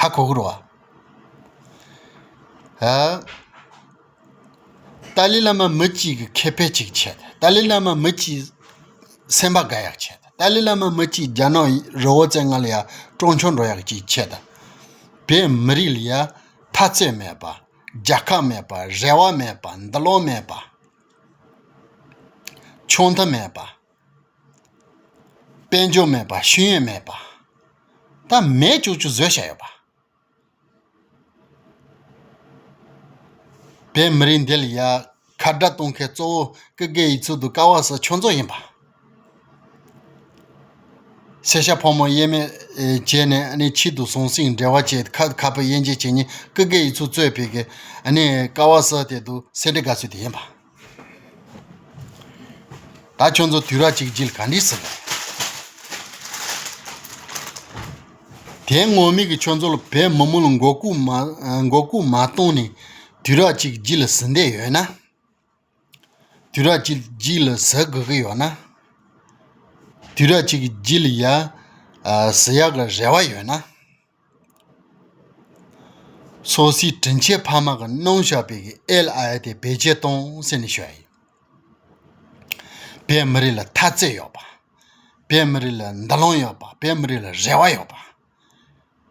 ཧ་གོ་གི་རོགས། ཏཱ་ལའི་བླ་མ་མི་གཅིག་གི་ཁེ་ཕན་གཅིག་བྱེད། ཏཱ་ལའི་བླ་མ་མི་གཅིག་སེམས་པ་དགའ་ཡག་བྱེད། ཏཱ་ལའི་བླ་མ་མི་གཅིག་རྒྱ་ནག་རི་བོ་རྩེ་ལྔ་ལ་ཡང་སྤྲང་ཆུང་འགྲོ་ཡག་གཅིག་བྱེད། བོད་མི་རིགས་ལ་ཡང་མཐའ་ཚད་མེད་པ་རྒྱལ་ཁབ་མེད་པ་རེ་བ་མེད་པ་འདི་ལོག་མེད་པ་ཆུང་མཐའ་མེད་པ། དཔལ་འབྱོར་མེད་པར་ཤེས་ཡོན་མེད་པ་ད་མེད་བཅུ་བཅུ་བཟོས་བཞག་ཡོད་པ་བས་མི་རིགས་འདི་ལ་ཡ་མཁའ་འགྲ་གཏོང་མཁན་གཙོ་བོ་ཀི་རྒས་ཡིག་ཚུལ་དུ་ཀ་བ་སོགས་ཆོས་མཛོད་ཡིན་པ་སེར་ཤ་ཕོ་མོ་དབྱེར་མེད་བྱས་ནས་ནི་ཕྱིས་དུ་ཟང་ཟིང་འབྲེལ་བ་བྱས་ཏེ་ཁ་ཁ་བོད་དབྱེ་འབྱེད་བྱེད་ཉིན་ཀི་རྒས་ཡིག་ཚུལ་གཙོས་ཕེབས་མཁན་ནི་ཀ་བ་སོགས་དེ་དུ་སེར་འབྲས་དགའ་ཚུལ་དེ་ཡིན་པ་ད་ཁྱོད་ཚོ་དུས་ར་གཅིག་བརྗེད་ག་འདྲི་སྲིད། དེའི་ངོར་མིག་གིས་ཁྱོད་ཚོ་ལ་བལ་མི་མོ་ལ་མགོ་སྐུར་མ་གཏོང་ནས་དུས་ར་གཅིག་བརྗེད་ལ་ཟི་འདས་ཡོད་ན། དུས་ར་གཅིག་བརྗེད་ལ་ཟི་དགོས་ཀྱི་ཡོད་ན། དུས་ར་གཅིག་བརྗེད་ལ་ཟི་ཡག་གི་རེ་བ་ཡོད་ན། སོ་སོའི་དྲིན་ཆེན་ཕ་མ་གི་སྣང་ཤ་བས་ཀྱི་ཨེལ་ཨ་ཨེ་དེ་བེད་སྤྱད་གཏོང་སེམས་ནི་ཤོད་ཨེ། བོད་མི་རིགས་ལ་མཐའ་ཚད་ཡོད་པ། བོད་མི་རིགས་ལ་འདུ་ལོང་ཡོད་པ་བོད་མི་རིགས་ལ་རེ་བ་ཡོད་པ།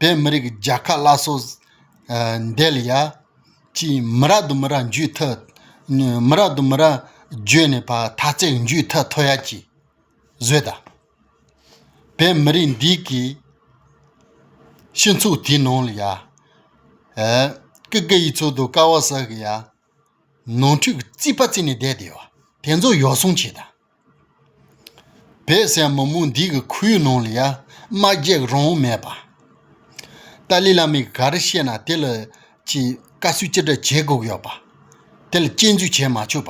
བོད་མི་རིགས་ཀྱི་རྒྱལ་ཁ་བླ་སྲོག་འདེལ་ཡ་གཅིག་མི་རག་དུ་མི་ར་འཇུས་ཐ་མི་རག་དུ་མི་ར་འཇོས་ནས་བ་མཐའ་ཚད་འཇུས་ཐ་མཐོ་ཡ་གཅིག་བཟོས་ད། པའི་མི་རིགས་འདིས་ཀྱི་སྤྱི་ཚོགས་དེའི་ནང་ལ་ཡ་ཀི་ཀི་ཡི་ཚུལ་དུ་ཀ་བ་ས་ཧི་ཡ་ནང་ཁྲུས་ཀྱི་རྩིས་པ་བརྩིས་ནས་བསྡད་དེ་ཡོད་དེ་ཚོ་ཡོ་བསྲང་བྱས་དང་བོད་ཟེར་མི་མོ་འདིས་ཀྱི་ཁོར་ཡུག་ནང་ལ་ཡ་མ་བརྒྱག་རང་མེད་པ་ཏཱ་ལའི་བླ་མས་ག་རེ་བཤད་ན་དེ་ལ་ཀྱི་བཀའ་སུས་ཅི་འདྲ་བྱེད་དགོས་ཀྱི་ཡོད་པ་དེ་ལ་སྐྱེལ་འཛུལ་བྱས་མ་ཆོག་པ་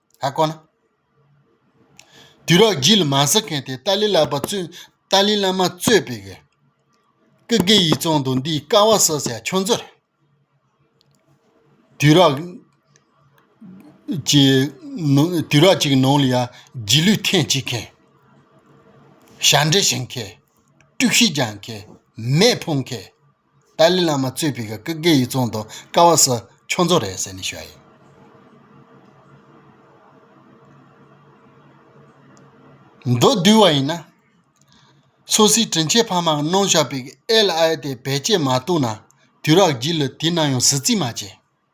ལྷག་གོ་ན། དུས་རབས་བརྒྱད་ལ་མ་ཟི་མཁན་དེ་ཏཱ་ལའི་བླ་པ་གཙོས་ཏཱ་ལའི་བླ་མ་གཙོས་པའི་ཀི་གེ་ཡི་ཙོང་དུ་འདིའི་ཀ་བ་སོ་སའི་ཆུ་མཛོད་རེད། དུས་རབས་ཀྱི་དུས་རབས་ཅིག་ནང་ལ་ཡང་རྗེས་ལུས་ཐེངས་གཅིག་མཁན། ཞབས་འདྲེན་བྱེད་མཁན། དཀྲུག་ཤིང་རྒྱག་མཁན། མེ་ཕུང་མཁན། ཏཱ་ལའི་བླ་མ་གཙོས་པའི་སྐབས་བཀའ་བརྒྱད་ཡིག་ཚང་དང་ཀ་བ་ས་ཁྱོ་མཚོ་རེད་ཟེར་ནས་བཤད་ཡོད། མདོ་བསྡུས་བ་ཡིན་ན། སོ་སིའི་དྲིན་ཆེན་ཕ་མ་གི་གནང་བཞག་པའི་ཨེ་ལ་ཨེ་དེ་བེད་སྤྱད་མ་བཏུག་ན་དུས་རགས་བགྱིས་ལ་དེས་ན་ཡང་ཟི་ཙིས་མ་བྱས།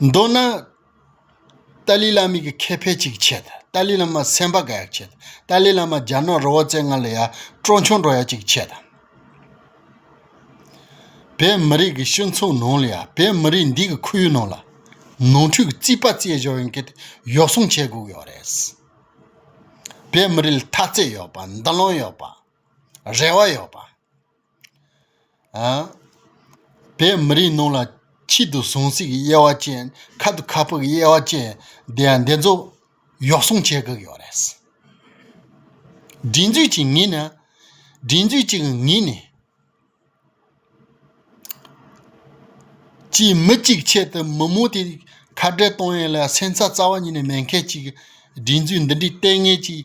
མདོར་ན། ཏཱ་ལའི་བླ་མེད་ཀྱི་ཁེ་ཕན་གཅིག་ཆད། ཏཱ་ལའི་བླ་མ་སེམས་པ་དགའ་ཡག་ཆད། ཏཱ་ལའི་བླ་མ་རྒྱ་ནག་རོལ་བ་བཙན་ང་ལ་ཡ་སྤྲོ་མཆོང་འགྲོ་ཡག་གཅིག་ཆད། བོད་མི་རིགས་ཀྱི་སྤྱི་མཚུངས་ནང་ལ་ཡ་བོད་མི་རིགས་འདི་གི་ཁོར་ཡུག་ནང་ལ། ནོར་འཁྲུལ་གྱི་རྩིས་པ་རྩིས་གཞོག་ཡོང་གི་གཡོག་སྲུང་བྱེད་དགོས་ཀྱི་ཡོག་རེད། བོད་མི་རིགས་ལ་ཐག་བཅད་ཡོག་པ་འདུ་ལོང་ཡོག་པ། རེ་བ་ཡོག་པ། བས་མི་རིགས་རྣམས་ལ་ཆེད་དུ་ཟུངས་ཟིག་གི་དབྱེ་བ་ཅན་ཁ་དུ་ཁ་ཕག་གི་དབྱེ་བ་ཅན་འདི་འདི་ཚོ་གཡོག་སྲུང་བྱེད་དགོས་ཀྱི་རེད། སྒྲིག་འཛུགས་ཀྱིས་ངེས་ནས་སྒྲིག་འཛུགས་ཀྱིས་ངེས་ནས་ཀྱིས་མི་གཅིག་ཆེད་དུ་མི་མང་དེ་ཁ་བྲལ་གཏོང་ཡས་ལ་སེམས་རྩ་རྩ་བ་ཉིད་ནས་མེད་མཁན་གཅིག་སྒྲིག་འཛུགས་འདི་འདྲའི་ལྟས་ངན་གྱིས་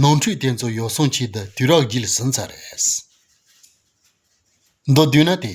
ནོར་འཁྲུལ་དེ་ཚོ་ཡོ་སྲུང་བྱེད་དུ་དུས་རག་བགྱིད་ཟིན་ཚར་རེད། མདོ་བསྡུས་ན་དེ།